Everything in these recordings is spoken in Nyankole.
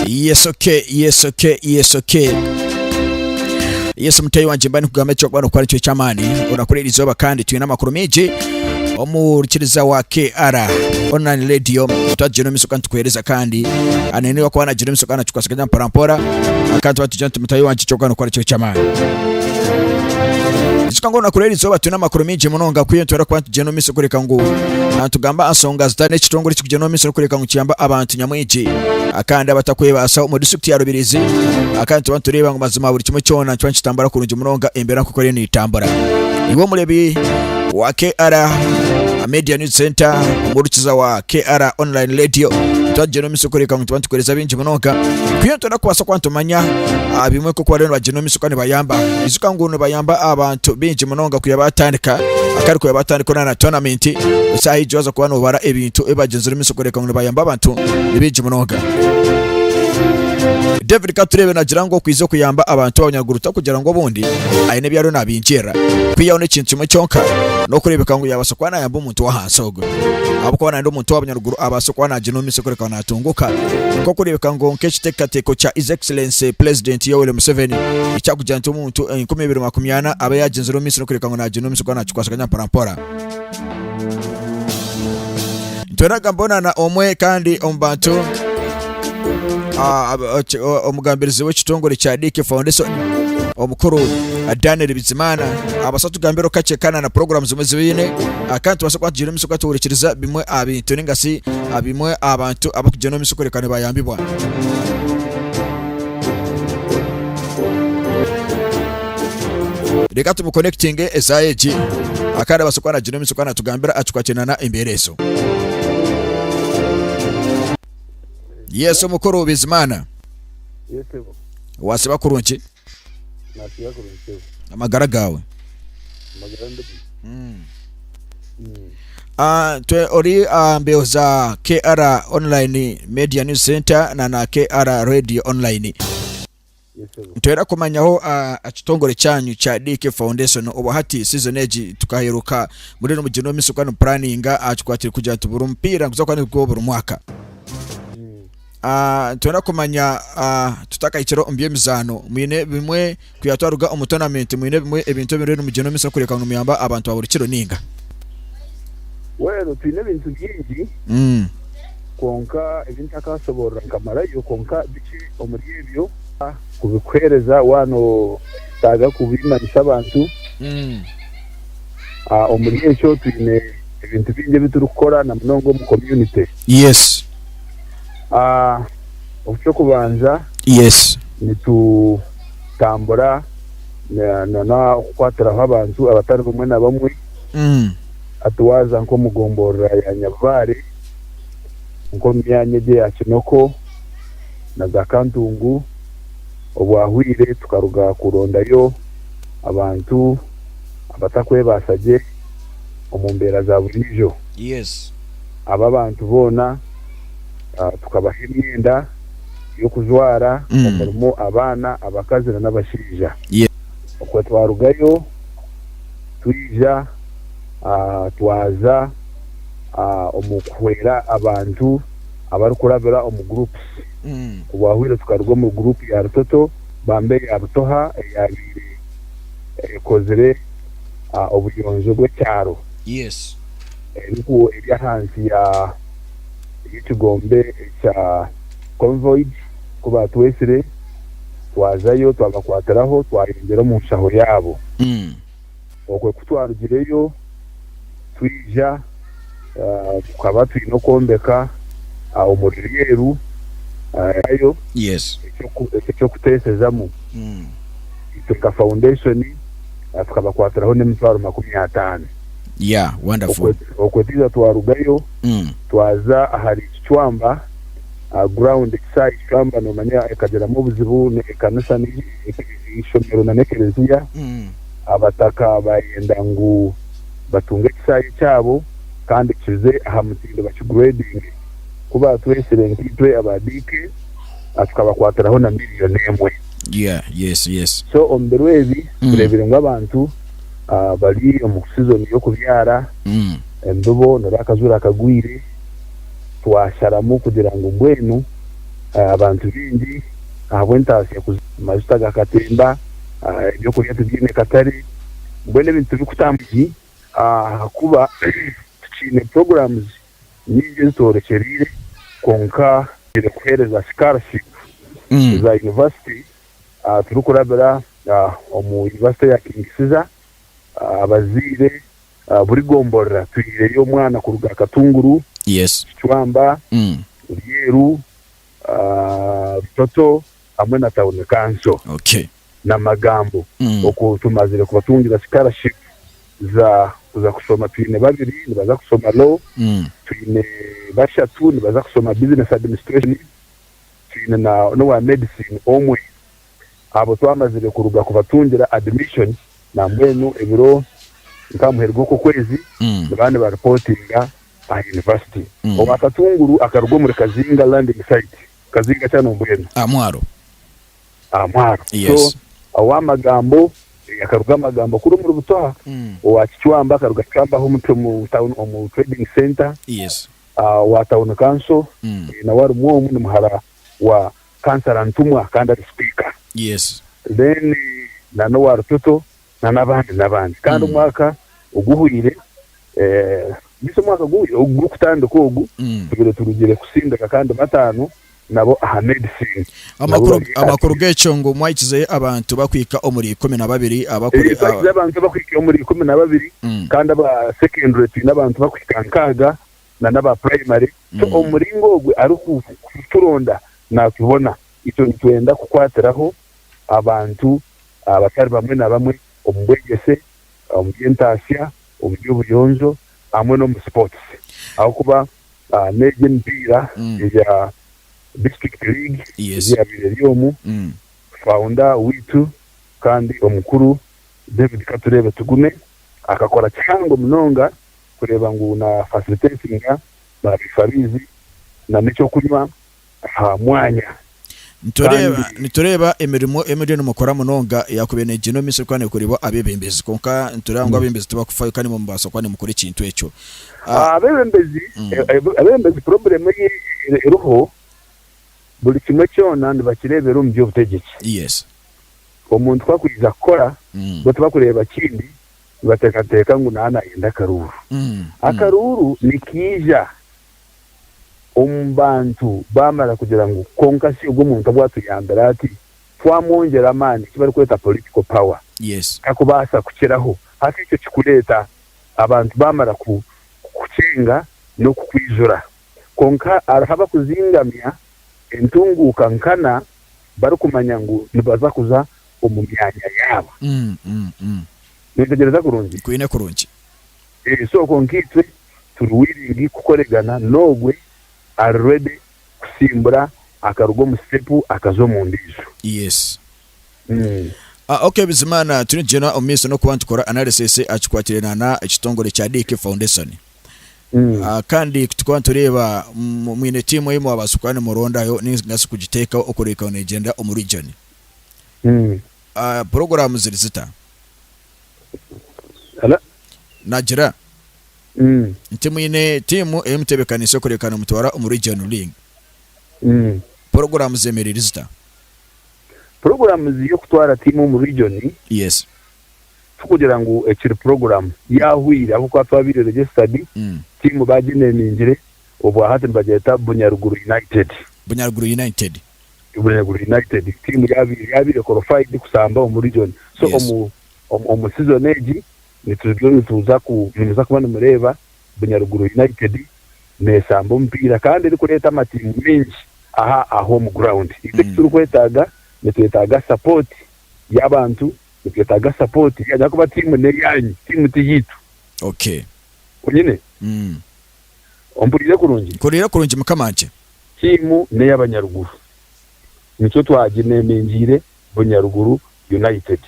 Yes okay, yes okay, yes okay. Yes mutei wanje mbani kugamba ekyo kwano kwari kyo kyamani orakora iri zoba kandi twine amakuru mingi omurikiriza wa KR online radio twagino miso kandi tukuhereza kandi anene wakuba nagino miso kandi nakikwasaganya mpora mpora kandi tuba tujya mutahi wangye kyoka nokora ekiro ky'amaani ekyo ngu nakurora eri izooba twine amakuru maingi munonga kwiha nitwenda kuba nitugyenda omu maisho kureka ngu ah, nitugamba aha nsonga zitari n'ekitongore ekikugyenda omu maisho n'okureka ngu kiyamba abantu nyamwingi Ah, kandi abatakwebaasa omu district ya Rubirizi Ah, kandi tuba nitureeba ngu mazima buri kimwe kyona nikiba nikitambura kurungi munonga embeera nk'oku eriyo neetambura iwe omurebi wa KR Media News Center omuhurikiza wa KR Online Radio tuba tugyenda omu ekirikworeka ngu tuba nitukoresa bingi munonga kwiha nitwenda kubaasa kuba nitumanya ah, bimwe nk'oku bariyo nibagyenda omu isiko nibayamba ijuka ngu nibayamba abantu bingi munonga kwiha baatandika akari kwiha baatandika orana na tournament esaaha egi waza kuba nobara ebintu ebi bagyenzire omu isiko kureka ngu nibayamba abantu ni bingi munonga david katurebe nagira ngu okwiza okuyamba abantu abanyaruguru takugira ngu obundi aine ebi ariyo nabingyerera kwihaho n'ekintu kimwe kyonka n'okureebeka ngu yaabaasa kuba nayamba omuntu omuntu w'ahansi ogu ahabw'okuba nandi omuntu wa bunyaruguru abaase kuba naagira omu maisho kureka naatunguka nk'okureebeka ngu nk'ekiteekateeko kya his excellency president yoweri museveni ekyakugira nti omuntu enkumi ibiri makumi ana abe yaagyenzire omu maisho n'okureebeka ngu naagira omu maisho kuba naakikwasaganya mporampora nitweraga mbonana omwe kandi omu bantu ah, ok- o- omugambirizi w'ekitongore kya Dick Foundation omukuru ah, Daniel Bizimana abasa tugambireho kakye kana na programu zimwe zibaine ah, kandi tubasa kuba tugiire omumiso kutuhurikiriza bimwe aha bintu ningasi ah, bimwe aha bantu abakugyenda omumiso kureka nibayambibwa reka tumukonekitinge esaaha egi Ah, kandi abasa kuba nagira omumiso kuba natugambira ah, tukakyenana embeera ezo Yesu omukuru Bizimana wasiba kurungi amagara gaawe Mm. Ah, twe ori ah, mbeho za KR Online Media News Center na na KR Radio Online Nitwenda kumanyaho ekitongore kyanyu kya DK Foundation obu hati season egi tukaheruka muri nimugirina omu maisho kuba nimupuraninga aha kikwatire kugira nti buri mupiira niguza kuba nigwo buri mwaka Ah, nitwenda kumanya ah, tutakahikire omu by'emizaano mwine bimwe kuya twaruga omu tournament mwine bimwe ebintu ebiri nimugirina omu maisho kureka ngu nimuyamba abantu ba buri kiro ninga Well twine ebintu bingi Mm. kwonka ebi ntakaashoboorora nkamarayo kwonka bikye omuri ebyo. A Kubikuheereza waaba noyetaaga kubimanyisa abantu. A Omuri ekyo twine ebintu bingi ebi turikukora na munonga omu komyunite. Yes. A Eky'okubanza, Yes. nitutambura na n'okukwatiraho abantu abatari bamwe na bamwe, hati waaza nk'omu gomborora ya Nyabibaare, nk'omu myanya egi eya Kinoko na za Kantungu, obwahweire tukaruga kurondayo abantu abatakwebaasa gye omu mbeera za buriijo. Abo abantu boona tukabaha emyenda y'okujwara omurimu abaana, abakazi nana abashaija. Okwo twarugayo twija twaza. omu kuhwera abantu abarikurabira omu groups. Obwahweire tukaruga omuri group ya Rutoto bamba eya Butoha eyabaire ekozire obuyonjo bw'ekyaro eri ahansi y'ekigombe ekya Convoid. Ku baatwetsire twazayo twabakwatiraho twayongyera omu nshaho yaabo. Okwe ku twarugireyo twija, tukaba twine okwombeka omuri Rweru yayo eky'okuteesezamu. Itwe nka Foundation tukabakwatiraho n'emitwaro makumi ataano. Okwe twija twarugayo twaza ahari Kicwamba ground. Ekishaayi Kicwamba noomanya ekagiramu obuzibu, n'ekanisa n'ekibiina. eishomero nana ekereziya, abataka bayenda ngu batunge ekishaayi kyabo kandi kize aha mutindo bakigradinge. Ku batwetsire nkaitwe aba DK, tukabakwatiraho na million emwe. So omu biro ebi tureebire ngu abantu bari omu season y'okubyara, embibo nari akazuura kagwire, twasharamu kugira ngu mbwenu abantu baingi. ahabw'entaasya kuza. Amajuta gakatemba, eby'okurya tibyine katare, mbwenu ebintu tibikutambura gye ahakuba tukiine programs nyingi ezitworekyereire kwonka tugiire kuheereza scholarship za university ahu turikurabira omu university ya King Caesar. Abazaire buri gomborora twihireyo omwana kuruga Katunguru, Kicwamba, Ryeru, Rutoto hamwe na Tawuni Kanso na Magambo oku tumazire kubatungira Sikaraashipu za kuza kushoma twine babiri nibaza kushoma Lo, twine bashatu nibaza kushoma Bizinesi Adimisitreeshoni, twine na n'owa Medisini omwe. Abo twamazire kuruga kubatungira Adimishoni nambwenu ebiro nka muheru gw'oku okwezi nibaba nibaripootinga. aha yunivasite. Owa Katunguru akaruga omuri Kazinga Landing Site, Kazinga Channel mbwenu. Aha mwaro. Aha mwaro. So, owa Magambo akaruga Magambo kuri omuri Butoha. Owa Kicwamba akaruga Kicwamba aho omu omu town omu trading center. Owa Town Council nawe arimu omu ni muhara wa Councillor Ntumwa kandi ari Speaker. Then na n'owa Rutoto na nabandi nabandi kandi Mm. omwaka oguhwire eh, bisi omwaka oguhwire ogu gurikutandika ogu Mm. tubire turugire kusindika kandi batano nabo aha medicine Nabo amakuru bari aha amakuru kibi. g'ekyo ngu mwahikize abantu bakwika omuri ikumi na babiri Eh, abakuri twagize abantu abakwika omuri ikumi na babiri Mm. kandi aba secondary twine abantu bakwika nkaaga na n'aba primary so Mm. omu muringo ogwe arikuturonda natubona itwe nitwenda kukwatiraho abantu abatari bamwe na bamwe omu bwegyese, omu by'entaatsya, omu by'obuyonjo hamwe n'omu sports ahabw'okuba n'egi emipiira eya district league egi eyaabaire eri omu, founder waitu kandi omukuru David Katureebe Tugume akakora kihango munonga kureeba ngu na facilitatinga ba biifabaizi na n'eky'okunywa aha mwanya Nitureeba kandi. nitureeba emirimo emiriyo nimukora munonga yaakubaire neegyenda omu maisho kuba neekoreibwa abebembezi kwonka nitureeba ngu abebembezi tibakufayo kandi imwe mubaasa kuba nimukora ekintu ekyo Ah, Abebembezi Mm. eh, eh, abebembezi problem ei e- eriho buri kimwe kyona nibakireebera omu by'obutegyeki. yes Omuntu ku akwija kukora Mm. bo tibakureeba kindi nibateekateeka ngu naaba naayenda akaruuru. Mm. Mm. Akaruuru nikiija omu bantu baamara kugira ngu kwonka shi ogwo muntu obwatuyambire ati, twamwongyera amaani, eki barikweta political power, takubaasa kukiraho. Hati ekyo kikureeta abantu baamara kukukyenga n'okukwijura. Kwonka hariho abakuzingamya entunguuka nkana barikumanya ngu nibaza kuza omu myanya yaabo. Nintegyereza kurungi? Ebisoko nkaitwe turi willing kukoregana nogwe ari ready kusimbura akaruga omu step akaza omundiijo. Yes. Ok Bizimana turi nitugyenda omumaiso nokuba nitukora analysis ahakikwatiraine na na ekitongore kya DK Foundation. Kandi kutukuba nitureeba mwine team ei mwabaasa kuba nimurondayo nigasi kugiteekaho okureebeka ngu negyenda omu region. Program ziri zita? Naagira nti, Mwine tiimu ei muteebekaniise kureka nimutwara omuri Gen Ling. Puroguraamu zeemereire zita? Puroguraamu z'eby'okutwara tiimu omu riijoni, Yes. tikugira ngu ekiri puroguraamu yaahwaire ahabw'okuba twabaire registered, tiimu baagineeningire, obwahati nibagyeta Bunyaruguru United. Bunyaruguru United. Bureebure United tiimu yaabaire yaabaire korofaidi kusamba omu region so Yes. omu omu- omu season egi nituriyo nituza ku nimuza kuba nimureeba Bunyaruguru United neesamba omupiira kandi erikureeta amatiimu maingi aha aha home ground. Itwe eki turikwetaaga nitwetaaga support y'abantu, nitwetaaga support yaanyu ahakuba tiimu n'eyaanyu tiimu tiyaitu Okay. onyine. Mm. Ompuriire kurungi? Mpuriire kurungi mukamangye. Tiimu n'eyabanyaruguru nikyo twaginemengiire Bunyaruguru United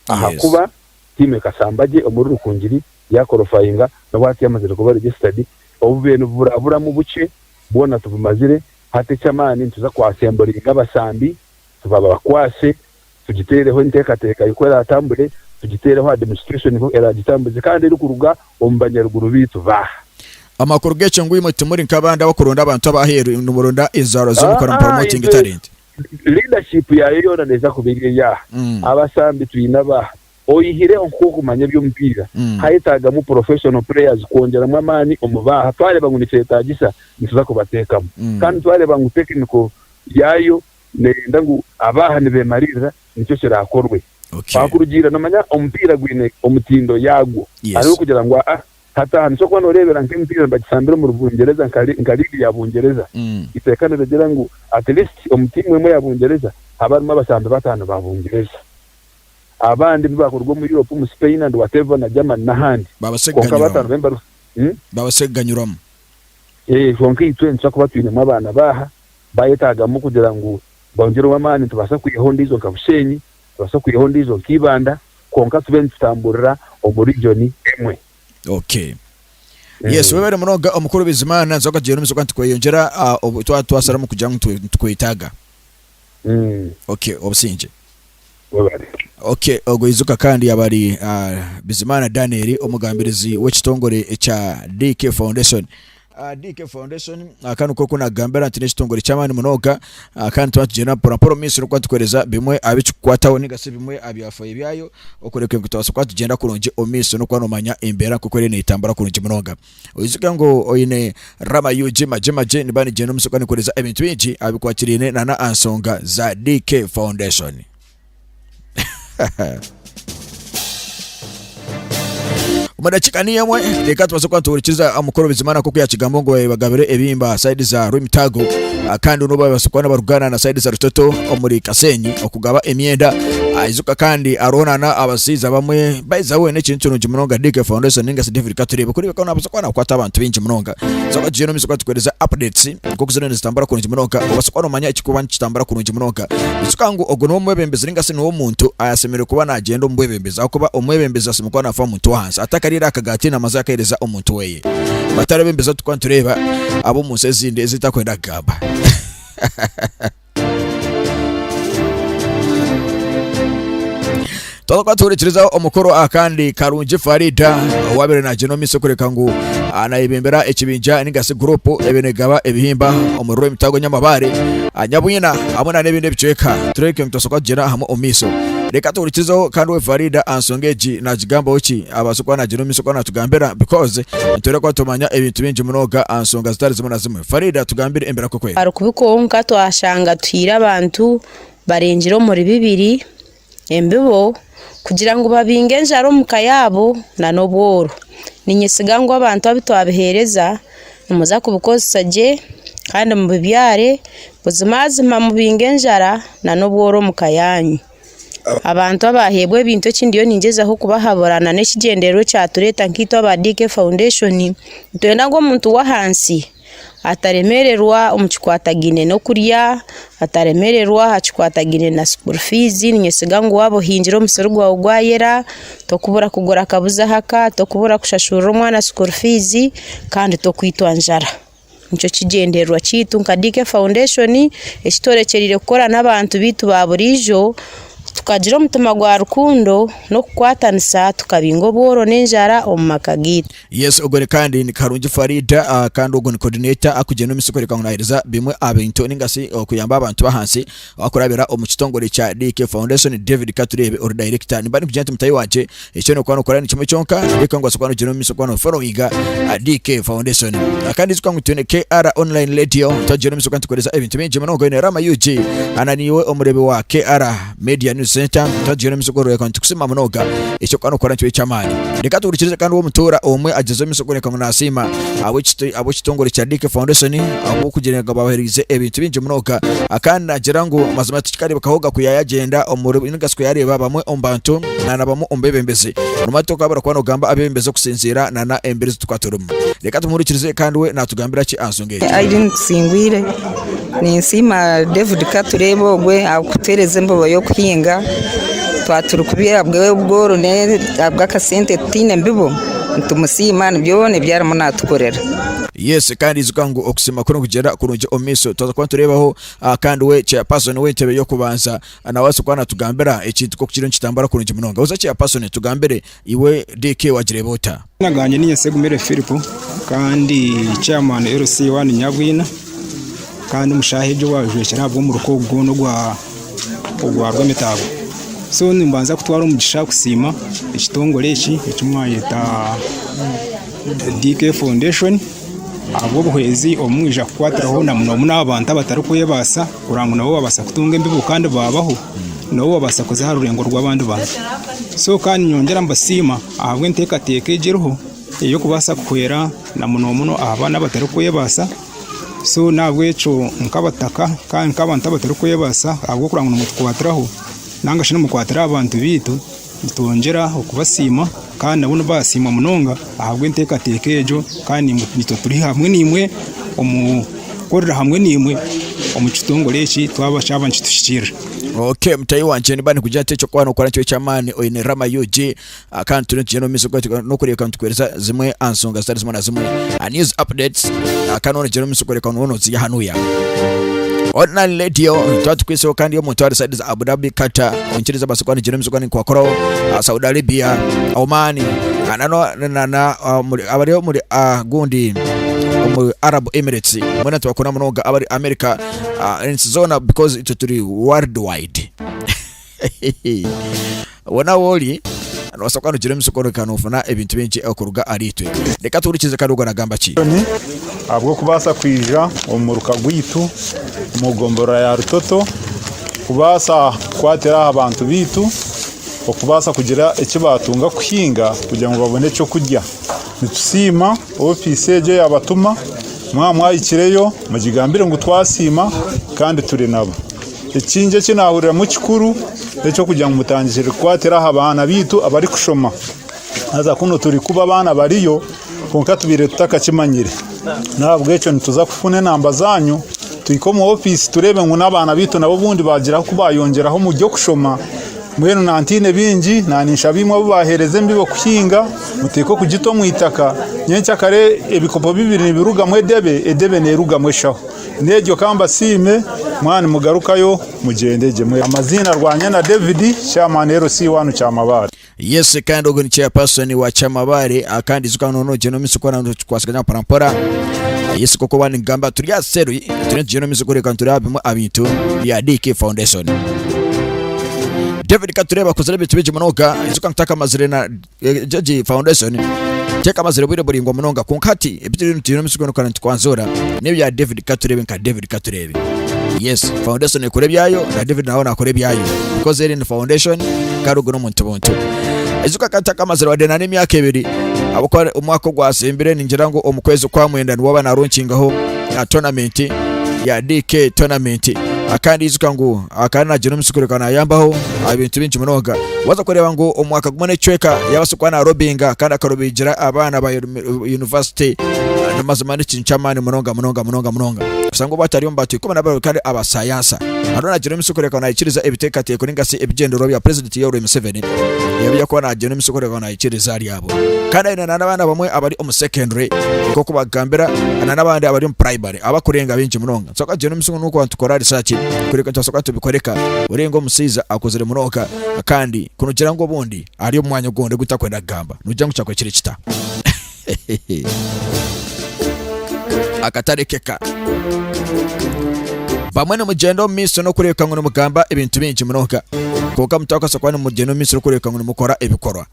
ahakuba tiimu e Kasambagye omuri Rukungiri yakorofayinga n'obwati yamazire kuba registered. Obubeene obu buraburamu bukye bwona tubumazire hati eky'amaani nituza kwasemburiinga abasambi tubabakwase tugiteereho enteekateeka y'oku eraatambure, tugiteereho administration hu eraagitambuze kandi erikuruga omu banyaruguru baitu baaha. Amakuru g'ekyo ngu imwe timuri nk'abandi abakuronda abantu ab'aheeru, nimuronda enzaarwa z'omu nkora mu promoting talent. Leadership yaayo yoona neeza kuba eri eyaaha? Abasambi twine abaaha? Oyihireho nk'okumanya eby'omupiira, haayetaagamu professional players kwongyeramu amaani omu baaha? Twareeba ngu nikyetaagisa, nituza kubateekamu. Kandi twareeba ngu technical yaayo, Neeyenda ngu abe aha nibeemariirira nikyo kiraakorwe. Twakurugiirira noomanya omupiira gwine omutindo yaagwo. Hariho kugira ngu aa hati aha nikyo kuba nooreebera nk'emipiira nibagisambira omu Bungyereza nka liigi ya Bungyereza. Eiteeka nirigira ngu at least omu tiimu emwe ya Bungyereza habe harimu abasambi bataano ba Bungyereza. Abandi ebi baakuruga omu Europe omu Spain and whatever na Germany n'ahandi. Kwonka bataano baabaire nibaruga. Baabaase kuganyurwamu. Eeh kwonka itwe nitubaasa kuba twinemu abaana baaha. baayetaagamu kugira ngu bongyereho amaani. Nitubaasa kwihaho ondiijo nka Bushenyi, nitubaasa kwihaho ondiijo nka Ibanda kwonka tube nitutamburira omu region emwe. Okay. Yes, webare munonga omukuru Bizimana, nzoga gye n'omuzoga nitweyongyera ah, obu twaba twasaramu kugira ngu nitwe- nitwetaaga. Mm. Okay, obusingye. Webale. Ok, ogwo Ijuka kandi yaba ari Bizimana Daniel omugambirizi w'ekitongore ekya DK Foundation. DK Foundation aka niko oku nakugambira nti n'ekitongore ky'amaani munonga kandi nituba nitugyenda mpora mpora omu maisho n'okuba nitukuhereza bimwe aha bikikukwataho ninga shi bimwe aha byafayo byayo okureeba ngu nitubaasa kuba nitugyenda kurungi omu maisho n'okuba noomanya embeera nk'oku eriyo neetambura kurungi munonga. oyijuka ngu oyine rama UG magye magye niba nigyenda omuso kandi nikoresa ebintu bingi abikwatiraine na na ansonga za DK Foundation. omu dakika niyo emwe reka tubaze kuba nituhurikiza omukuru bizimana nk'oku yakigambo ngu bagabire ebimba saidi za rwimitago ah, kandi n'obu babaasa kuba nibarugana na saidi za rutoto omuri kasenyi okugaba emyenda ayijuka kandi hariho nana abasaiza bamwe Baiza weena ekintu kirungi munonga DK Foundation ninga si David Katureebe kureeba ku naabaasa kuba naakwata abantu baingi munonga so abatugyere omu maisho katukuhereza updates nk'oku ziriyo nizitambura kurungi munonga obaasa kuba noomanya ekikuba nikitambura kurungi munonga ekituka ngu ogu niwe mwebembezi ninga si niwe omuntu ayasemereire kuba naagyenda omu bwebembezi ahakuba omwebembezi asemereire kuba naafa omuntu w'ahansi atakariire aha kagaati naamazi akahereza omuntu weeye batari abebembezi abu turikuba nitureeba ab'omu nsi ezindi ezi tutakwenda kugamba twakuba tuhurikirizaho omukuru akandi karungi farida owabire nagenda omu maisho kureka ngu anayebembera ekibinja nigasi gurupu ebenegaba ebihimba omuriro emitago nyamabaare anyabwina hamwe na n'ebindi ebicweka tureke nitwasoboka kugira hamwe omu maisho reka tuhurikirizeho kandi we farida ansonga egi nagigambaho ki abaasa kuba nagira omu maisho kuba natugambira because nitwere kuba tumanya ebintu bingi munonga aha nsonga zitari zimwe na zimwe Farid atugambire embera kwe kwega. Arikubi kwonka twashanga tuhaire abantu barengire omuri bibiri embibo kugira ngu babinge enjara omu ka yaabo nana obworo. Ninyesiga ngu abantu abu twabiheereza nimuza kubikozesa gye kandi mubibyare buzimazima mubinge enjara nana obworo omu ka yaanyu. Abantu abaaheebwa ebintu eki ndiyo ningyezaho kubahabura nana ekigyendererwa ekyatureeta nkaitwe aba DK foundation nitwenda ngu omuntu w'ahansi ataremererwa omu kikwatagaine n'okurya, ataremererwa aha kikwatagaine na school fees ninyesiga ngu waaba ohingire omusiri gwawe gwayera tokubura kugura akabuzi ahaka, tokubura kushashurira omwana school fees kandi tokwitwa njara. nikyo kigyendererwa kyaitu nka DK Foundation ekitworekyereire kukora n'abantu baitu ba buriijo tukagira omutima gwa rukundo n'okukwatanisa tukabainga obworo n'enjara omu maka gaitu. Yes ogwo ni kandi ni Karungi Farid ah, kandi ogwo ni coordinator akugyenda omu misiri kworeka ngu naheereza bimwe aha bintu ninga shi okuyamba abantu b'ahansi. Abakurabira omu kitongore kya DK Foundation, David Katureebe ori dayirekita nimba nikugira nti mutahi wakye eki orikuba nookora nikimwe kyonka reka ngu obaase kuba noogyenda omu maisho kuba noofolowinga DK Foundation. Kandi ijuka ngu twine KR Online Radio twagyenda omu maisho kuba nitukuheereza ebintu bingi munonga oine Rama UG na niiwe omureebi wa KR Media News Centre twagyenda omu maisho kuba orikureebeka ngu nitukusiima munonga eki orikuba nookora nikyo eky'amaani. Reka tuhurikirize kandi ow'omutuura omwe agyezeho omu maisho kworeka ngu naasiima ab'ekito- ab'ekitongore kya Dick Foundation ahabw'okugira ngu babahereize ebintu bingi munonga Ah, kandi nagira ngu mazima tikikareebekaho ga ku yaayagyenda omuri ninga shi ku yaareeba bamwe omu bantu na na bamwe omu beebembezi nobu tokuba barikuba nibagamba abeebembezi okusinziira na na emibiri ezi tukuba turimu reka tumuhurikirize kandi we naatugambira ki aha nsonga egi Irene Tusingwire Ninsiima David Katureebe ogwe ahabw'okutuheereza embobo y'okuhinga twaba turikubiha ahabw'obworo n'ahabw'akasente tutaine mbibo nitumusiima ni byona ebi arimu naatukorera. Yes kandi ijuka ngu okusiima kuri nikugyera kurungi omu maisho. Twaza kuba nitureebaho kandi we Chairperson w'entebe y'okubanza nawe abaase kuba naatugambira ekintu nk'oku kiriyo nikitambura kurungi munonga. Buza Chairperson tugambire. Iwe DK wagireeba ota? Amazina gangye ni Nyesegumire Phillip kandi ndi chairman LC I Nyabwina kandi omu shaaha egi owajwekyera ahabw'omuruka ogu gwona ogwa ogwa rw'emitaago so nimbanza kutwara omugisha kusiima ekitongore eki eki mwayeta DK foundation ahabw'obuhwezi obu mwija kukwatiraho na muno muno abantu abatarikwebaasa. Kurora ngu nabo babaasa kutunga embibo kandi baabaho, nabo babaasa kuza aha rurengo rw'abandi bantu. So kandi nyongyera mbasiima ahabw'enteekateeka egi eriho ey'okubaasa kuhwera na muno muno aha baana abatarikwebaasa. So n'ahabw'ekyo nk'abataka kandi nk'abantu abatarikwebaasa ahabw'okugira ngu nimwe tukwatiraho, nainga shi nimwe mukwatira aha bantu baitu, Nitwongyera okubasiima kandi nabo nibasiimwa munonga ahabw'enteekateeka egyo kandi naitwe turi hamwe naimwe omu kukorera hamwe naimwe omu kitongore eki twaba kyaba nikituhikiirira. Ok mutahi wangye niba nikugira nti ekyokuba nokora nikyo eky'amaani oine Rama UG kandi turiyo nitugyenda omu maisho n'okureebeka nitukuheereza zimwe aha nshonga zitari zimwe na zimwe aha news updates kandi noba noogyenda omu maisho kureebeka ngu nooba nooziiha hanuya. Online Radio twaba tukwiitseho kandi omuntu ari side za Abu Dhabi, Qatar. onkiriza abaase kuba nigira emizigo ninkubakoraho aha Saudi Arabia Oman ah, na no- na- na- na- ah, omuri- abari omuri ah, gundi omu Arab Emirates mwena tubakunda munonga abari America ah, ensi zoona because itwe turi world wide wona ahu ori nobaasa kuba nigira emizigo reka nofuna ebintu bingi okuruga ahari itwe reka tuhurikize kandi ogwo nagamba ki Museveni ahabw'okubaasa kwija omu muruka gwaitu omu gomborora ya Rutoto kubaasa kukwatira aha bantu baitu okubaasa kugira eki baatunga kuhinga kugira ngu babone eky'okurya. Nitusiima ofiisi egyo yaabatuma, mwaba mwahikireyo mugigambire ngu twasiima kandi turi nabo. Ekindi eki naahuriramu ekikuru n'eky'okugira ngu mutandikire kukwatira aha baana baitu abarikushoma. Haza kunu turi kuba abaana bariyo, kwonka tubaire tutakakimanyire. N'ahabw'ekyo nituza kufuna enamba zaanyu, tuhike omu ofiisi tureebe ngu n'abaana baitu nabo obundi baagira ahu baayongyeraho omu by'okushoma. Mbwenu nantiine bingi, naninshaba imwe abu baaheereza embibo kuhinga, muteeke okugita omu itaka, nyenkya kare ebikopo bibiri nibirugamu edebe, edebe neerugamu eshaho. N'egyo ka mbasiime, mwaba nimugarukayo, mugyende gye. Amaziina Rwanyana David, Chairman LC1 Kyamabaare. Yes kandi ogu ni chairperson wa Kyamabaare ah, kandi ijuka noona ogyenda omu maisho kukora nikikwatsagana mpora mpora yes koko waba nigamba turi aha seru turiyo nitugyenda omu maisho kureka nituri aha bimwe aha bintu bya DK Foundation David Katureba akozire ebintu bingi munonga ijuka ngu takamazire na eh, Jeje Foundation tekamazire bwire buraingwa munonga kwonka hati ebi turiyo nitugyenda omu maisho kukora nitukwanzura n'ebya David Katurebe nka David Katurebe Yes, foundation ekora ebyayo na David nawe nakora ebyayo because eri ni foundation kandi ogu n'omuntu buntu. Ijuka ka ntakamazire wadde na n'emyaka ebiri ahabw'okuba omwaka ogwatsimbire ningira ngu omu kwezi kwa mwenda niwo aba naronkingaho ah, tournament ya DK tournament Ah, kandi ijuka ngu ah, kandi nagira omusi kureka nayambaho aha bintu bingi munonga waza kureba ngu omwaka gumwe n'ekicweka yabasa kuba narobinga kandi akarobigira abaana ba yunivasite ni mazima n'ekintu ky'amaani munonga munonga munonga munonga kusanga obu atari omu bantu ikumi na babiri kandi abasayansa hariho nagira emisi kureka ngu naikiriza ebiteekateeko ninga si ebigyendererwa bya purezidenti Yoweri Museveni ebi yakuba nagira emisi kureka ngu naikiriza ahari abo kandi aine na n'abaana bamwe abari omu secondary nk'oku bakugambira na n'abandi abari omu primary abakurenga baingi munonga so akagira emisi ngu n'okuba nitukora research kureka nitwasoboka nitubikoreka orenga omushaija akuzire munonga kandi kunugira ngu obundi Ari omu mwanya ogu orikureeba gutakwenda kugamba, noogira ngu kyakuhikire kita? Akatarekeka. Bamwe nimugyenda omu maisho n'okureebeka ngu nimugamba ebintu bingi munonga, kwonka mutakabaasa kuba nimugyenda omu maisho n'okureebeka ngu nimukora ebikorwa.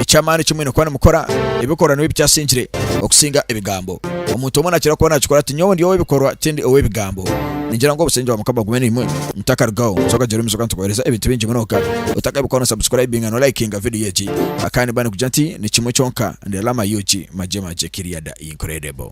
Eky'amaani eki mwine kuba nimukora, ebikorwa nibyo bikyasingire okusinga ebigambo. Omuntu omwe naakira kuba naakikora ati, Nyowe ndi ow'ebikorwa, tindi ow'ebigambo. Ningira ngu obusingye bwa Mukama bube naimwe. ntakarugaho so okagira omuzigu nitukuhereza ebintu bingi munonga otakabikora no subscribinga no likinga video egi akandi mba nikugira nti ni kimwe kyonka ndi lama yuki magye magye kiriyada incredible